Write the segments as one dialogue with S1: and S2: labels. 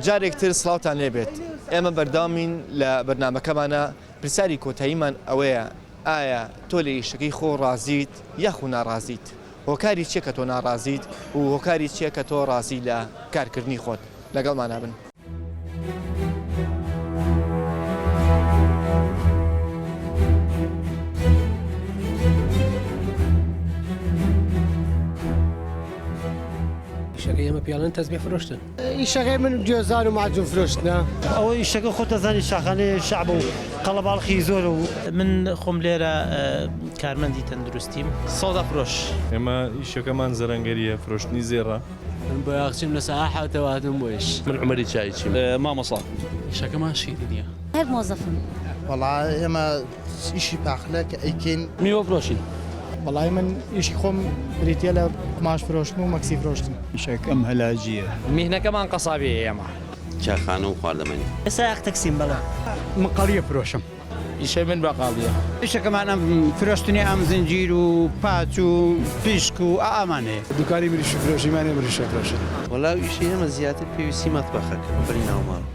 S1: جارێک تر سڵاوتان لێبێت ئێمە بەردەوامین لە بەرنامەکەمانە پرسیاری کۆتاییمان ئەوەیە ئایا تۆ لە ئیشەکەی خۆ ڕازیت یاخو ناڕازیت هۆکاری چیە کە تۆ ناڕازیت و هۆکاری چیە کە تۆ ڕازی لە کارکردنی خۆت لەگەڵمانە بن. شەکە
S2: ئێمە پیاڵن تەزمی فرۆشتن ئیشەکەی من
S3: گوێزان و مەعجون فرۆشتنە. ئەوە ئیشەکە خۆت
S4: ئەزانی شاخانەی شەعبە و قەڵەباڵخی زۆرە و. من خۆم لێرە
S5: کارمەندی تەندروستیم. سەودا فرۆش. ئێمە ئیشەکەمان
S6: زەرەنگەرییە، فرۆشتنی زێڕە. من بۆیاخچیم
S2: لە سەعە حەوتەوە هاتووم بۆ ئیش. من عومەری چایچیم،
S7: مامۆسا. ئیشەکەمان
S2: شیرینییە. هەر مۆزەفم.
S8: وەڵا
S9: ئێمە. ئیشی پاقلە کە ئەیکەین. میوە فرۆشین.
S7: وەڵای من
S3: ئیشی خۆم بریتیە لە قوماش فرۆشتن و مەکسی فرۆشتن. ئیشەکەم هەلاجیە.
S4: میهنەکەمان
S2: قەسابیە ئێمە. چایخانە و
S7: خواردەمەنی. سایەق تەکسیم بەڵێ.
S4: من قەڵیە
S3: فرۆشم. ئیشەی من
S7: باقاڵیە. ئیشەکەمان ئەم
S4: فرۆشتنی ئەم زنجیر و پاچ و پشک و ئا ئامانەیە. دوکانی مریشک
S3: فرۆشیمانە مریشک ئەفرۆشین. وەلاو ئیشی ئێمە
S7: زیاتر پێویستی مەتبەخە کە ئەبرێ ناو ماڵ.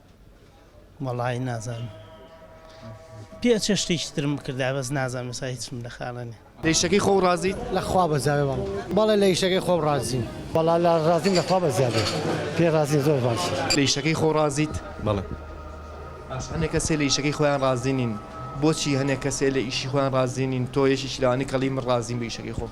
S1: وەڵایی
S5: نازانم پێ چ شتێکی ترم بکردایە بەس نازانم ئێستا هیچم لە خاڵە نییە. لە ئیشەکەی خۆو ڕازیت؟
S1: لە خوا بەزاوێ
S3: بەڵێ. بەڵێ لە ئیشەکەی خۆم ڕازیم. وەڵا لە ڕازیم
S4: لە خوا بەزاوێ پێ ڕازیم زۆر باشە. لە ئیشەکەی خۆو ڕازیت؟
S1: بەڵێ.
S6: باشە
S1: هەنێ کەسێ لە ئیشەکەی خۆیان ڕازی نین بۆچی هەنێ کەسێ لە ئیشی خۆیان ڕازی نین تۆ یەکێکی لەوانی کە ڵی من ڕازیم لە ئیشەکەی خۆم.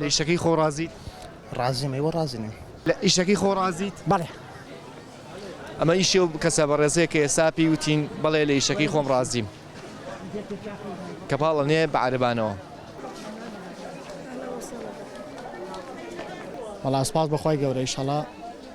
S1: لە ئیشەکەی خۆ ڕازیت ڕازیم ئێوە
S9: ڕازی نیم لە ئیشەکەی خۆ
S1: ڕازیت بەڵێ ئەمە ئیشێ و کەسە بە ڕێزەیە کە ئێستا پێی وتین بەڵێ لە ئیشەکەی خۆم ڕازیم کە پاڵە نێ بە عربانەوە
S3: وەڵا سپاس بەخوای گەورە ئیشەڵا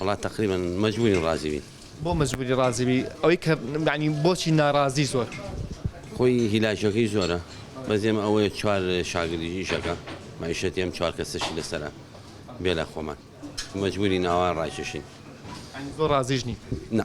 S1: وەڵا تەقریبەن
S7: مەجبورین ڕازی بین. بۆ مەجبوری ڕازی
S1: بی ئەوەی کە یانی بۆچی نارازی زۆر. خۆی
S7: هیلاکەکەی زۆرە بەس ئێمە ئەوەیە چوار شاگردی ئیشەکە مەعیشەتی ئەم چوار کەسەشی لەسەرە بێلە خۆمان مەجبورین ئاوا ڕایکێشین. یانی زۆر
S1: ڕازیش نین. نا.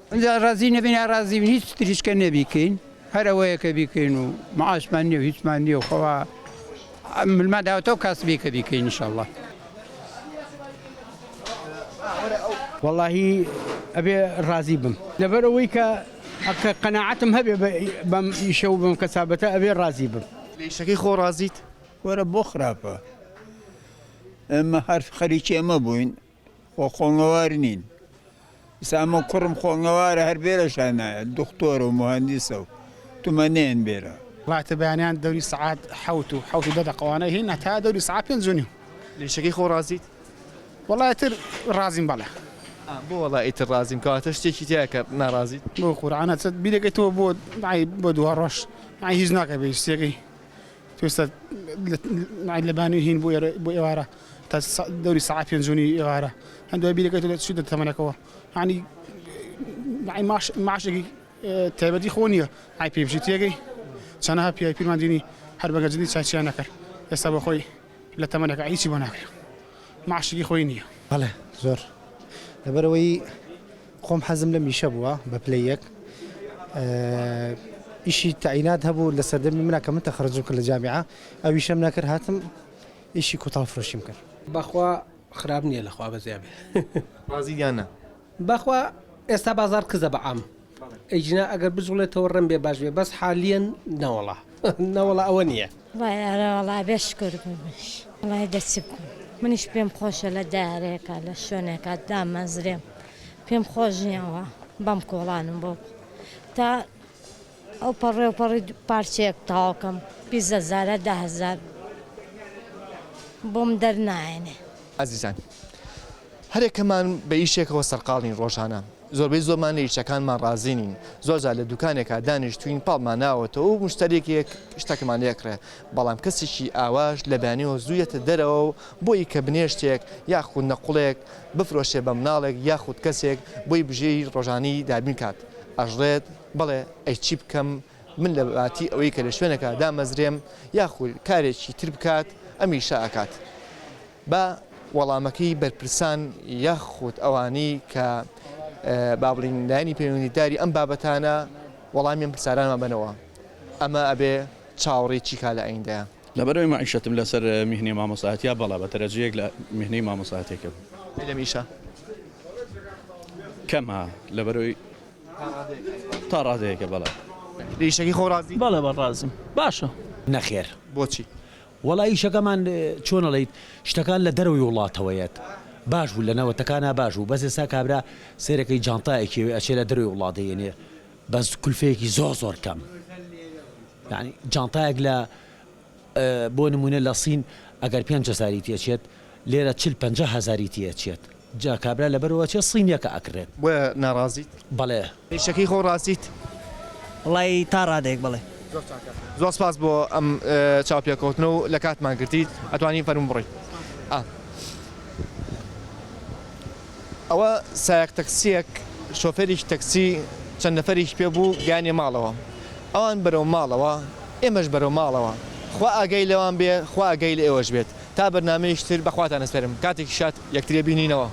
S4: ئینجا ڕازی نەبین یا ڕازی بین هیچ تریش کە نەبیکەین هەر ئەوەیە کە بیکەین و معاشمان نییە و هیچمان نییە و خەوا ملمان داوەتەوە کاسبی کە بیکەین انشاءاللە وەڵاهی ئەبێ ڕازی بم لەبەر ئەوەی کە ئەکە قەنەعەتم هەبێ بەم ئیشە و بم کەسابەتە ئەبێ ڕازی بم لەیشەکەی خۆ
S1: ڕازیت وەرە بۆ
S10: خراپە ئێمە هەر خەریکی ئەمە بووین خۆ خۆڵنەوار نین ئیسا ئەمە کوڕم خۆڵنەوارە هەر بێرە شانایە دختۆرە و مهندسە و تمەنێن بێرە. ڕاتە
S3: بەیانیان دەوری سەعات حەوت و حەوت و دە دەقە وانە هین هەتا دەوری سەعات پێنج و نیو. لە ئیشەکەی خۆ
S1: ڕازیت؟ وەڵا ئیتر
S3: ڕازیم بەڵێ. ئا بۆ وەڵا
S1: ئیتر ڕازیم کەواتە شتێکی تیایە کە ناڕازیت؟ بۆ قورعانە چەت
S3: بیرەکەی تۆ بۆ ئای بۆ دوا ڕۆژ ئای هیچ ناکە بە هیچ شتێکی. پێویستە ناید لە بانوی هین بۆ ئێرە بۆ ئێوارە تا دەوری سەعات پێنج و نیو ئێوارە هەن دوای بیرەکەی تۆ چی دەتەمەنەکەوە یعنی یعنی معاش معاشێکی تایبەتی خۆ نییە ئای پێی بژی تێگەی چەنەها پیاوی پیرمان دینی هەر بەگەجنی چاچیان نەکرد ئێستا بە خۆی لە تەمەنەکە هیچی بۆ ناکرێت معاشێکی خۆی نییە بەڵێ زۆر
S9: لەبەرەوەی خۆم حەزم لە میشە بووە بە پلەی یەک ئیشی تەعینات هەبوو لە سەردەمی منە کە من تەخرەجم کرد لە جامیعە ئەویشم نەکرد هاتم ئیشی کوتاڵ فرۆشیم کرد. بەخوا
S11: خراپ نیە لەخوا بەزیا بێ. ڕازیت یان
S1: نا؟ بەخوا
S11: ئێستا بازاڕ کزە بە عام ئیجنا ئەگەر بجوڵێتەوە ڕەنبێ باش بێ بەس حالیەن نەوەڵا نەوەڵا ئەوە نیە. وەڵای ئەرێ وەڵا بێ
S8: شکور بمش وەڵای دە چ بکەم منیش پێم خۆشە لە دارێکا لە شوێنێکا دامەزرێم پێم خۆش نییە وا بەم کۆڵانم بۆ تا ئەو پەڕێ و پەڕی پارچەیەک تاوکەم بیست هەزارە دە هەزار بۆم دەرنایەنێ. ئەزیزان
S1: هەرێکەمان بە ئیشێکەوە سەرقاڵین ڕۆژانە زۆربەی زۆرمان لە ئیشەکانمان ڕازی نین، زۆرجار لە دوکانێکا دانیشتووین پاڵمان ناوەتەوە و مشتەریەک شتەکمان لێکڕێ، بەڵام کەسێکی ئاواش لە بەیانیەوە زوو یەتە دەرەوە و بۆیی کە بنێشتێک یاخود نەقوڵێک بفرۆشێ بە مناڵێک یاخود کەسێک بۆی بژێوی ڕۆژانەی دابین کات ئەژڕێت بڵێ ئەی چی بکەم من لە باتی ئەوەی کە لە شوێنەکا دامەزرێم یاخود کارێکی تر بکات ئەم ئیشە ئەکات با وەڵامەکەی بەرپرسان یاخود ئەوانەی کە با بڵین لایەنی پەیوەندیداری ئەم بابەتانە وەڵامی ئەم پرسارانمان بەنەوە ئەمە ئەبێ چاوەڕێی چی کا لە ئەیندەیە. لەبەرەوەی مەعیشەتم
S6: لەسەر میهنەی مامۆستایەتیە بەڵا بە تەرەجویەک لە میهنەی مامۆستایەتیەکەم. ئەی لەم ئیشە؟ کەمە لەبەرەوەی تا ڕادەیەکە بەڵا. لە ئیشەکەی خۆ
S1: ڕازی؟ بەڵێ بە ڕازیم
S5: باشە. نەخێر.
S2: بۆچی؟
S1: وەڵا ئیشەکەمان
S2: چۆن ئەڵێیت شتەکان لە دەرەوەی وڵاتەوەیەت باش بوو لە نەوەتەکانا باش بوو بەس ئێستا کابرا سەیرەکەی جانتا ئەکێوێ ئەچێ لە دەرەوەی وڵات دەیەنێ بەس کولفەیەکی زۆر زۆر کەم یعنی جانتایەک لە بۆ نموونە لە سین ئەگەر پێنج هەزاری تێچێت لێرە چل پەنجا هەزاری تێچێت. جا کابرا لەبەروا چیە صینیەکە ئەکڕێت. بۆیە ناڕازیت؟
S1: بەڵێ. ئیشەکەی
S2: خۆ ڕاستیت؟
S1: وەڵای
S11: تا ڕادەیەک بەڵێ. زۆر چاکە زۆر سپاس
S1: بۆ ئەم چاوپێکەوتنە و لە کاتمان گرتیت ئەتوانی فەرموو بڕۆی ئا. ئەوە سایەق تەکسیەک شۆفێریکی تەکسی چەند نەفەرێکی پێ بوو گەیانیە ماڵەوە ئەوان بەرەو ماڵەوە ئێمەش بەرەو ماڵەوە خوا ئاگای لەوان بێ خوا ئاگای لە ئێوەش بێت تا بەرنامەیەکی تر بەخواتان ئەسپێرم کاتێکی شاد یەکتری بینینەوە.